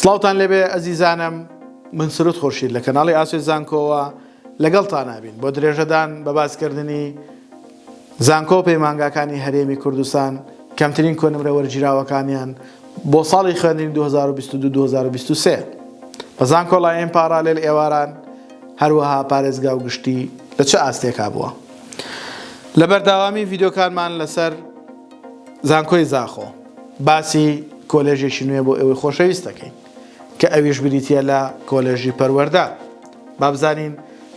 سڵاوتان لێبێ ئەزیزانم من سرود خورشید لە کەناڵی ئاسۆی زانکۆوە لەگەڵتانابین بۆ درێژەدان بە باسکردنی زانکۆ و پەیمانگاکانی هەرێمی کوردستان کەمترین کۆنمرە وەرگیراوەکانیان بۆ ساڵی خوێندنی 2022-2023 بە زانکۆڵایەن پاڕالێل ئێواران هەروەها پارێزگا و گشتی لە چ ئاستێکا بووە لە بەرداوامی ڤیدۆکانمان لەسەر زانکۆی زاخۆ باسی کۆلێژێکی نوێ بۆ ئێوەی خۆشەویست دەکەین کە ئەویش بریتییە لە کۆلێژی پەروەردە با بزانین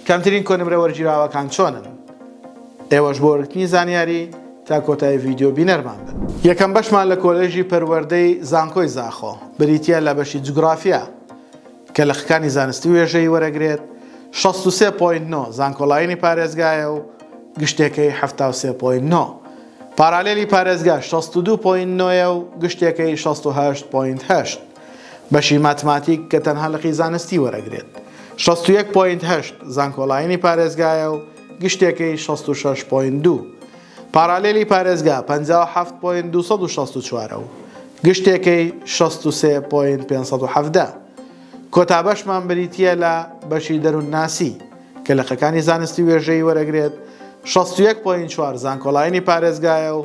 کەمترین کۆنمرە وەرگیراوەکان چۆنن ئێوەش بۆ وەرگرتنی زانیاری تا کۆتایی ڤیددیو بینەرمان بن یەکەم بەشمان لە کۆلێژی پەروەردەی زانکۆی زاخۆ بریتییە لە بەشی جوگرافیا کە لە خکانی زانستی وێژەی وەرەگرێت 63.9 زانکۆلاینی پارێزگایە و گشتێکەی 73.9 پارالێلی پارێزگا شەست و دوو پۆینت نۆ یە و گشتێکەی شەست و هەشت پۆینت هەشت. بەشی ماتماتیک کە تەنها لقی زانستی وەرەگرێت شەست و یەک پۆینت هەشت زانکۆلاینی پارێزگایە و گشتێکەی شەست و شەش پۆینت دوو. پارالێلی پارێزگا پەنجا و حەفت پۆینت دوو سەد و شەست و چوار ە و گشتێکەی شەست و سێ پۆینت پێنج سەد و حەڤدە. کۆتا بەشمان بریتییە لە بەشی دەروونناسی. کە لقەکانی زانستی وێژەیی وەرەگرێت شەست و یەک پۆینت چوار زانکۆڵاینی پارێزگایە و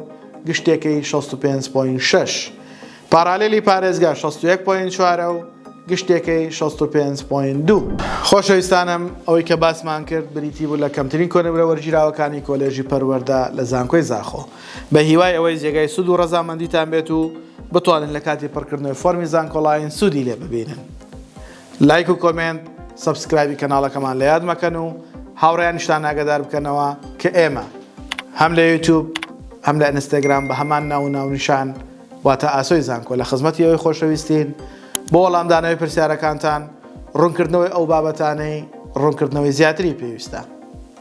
گشتێکەی شەست و پێنج پۆینت شەش پارالێلی پارێزگا شەست و یەک پۆینت چوارە و گشتێکەی شەست و پێنج پۆینت دوو. خۆشەویستانم ئەوەی کە باسمان کرد بریتی بوو لە کەمترین کۆنمرە وەرگیراوەکانی کۆلێژی پەروەردە لە زانکۆی زاخۆ. بە هیوای ئەوەی جێگای سوود و ڕەزامەندیتان بێت و بتوانن لە کاتی پڕکردنەوەی فۆرمی زانکۆڵاین سوودی لێ ببینن. لایک و کۆمێنت سەبسکرایبی کەناڵەکەمان لە یاد مەکەن و هاوڕێیانیشتان ئاگەدار بکەنەوە کە ئێمە هەم لە یوتوب هەم لە ئینستاگرام بە هەمان ناو و ناونیشان واتە ئاسۆی زانکۆ لە خزمەتی ئەوەی خۆشەویستین بۆ وەڵامدانەوەی پرسیارەکانتان ڕوونکردنەوەی ئەو بابەتانەی ڕوونکردنەوەی زیاتری پێویستە.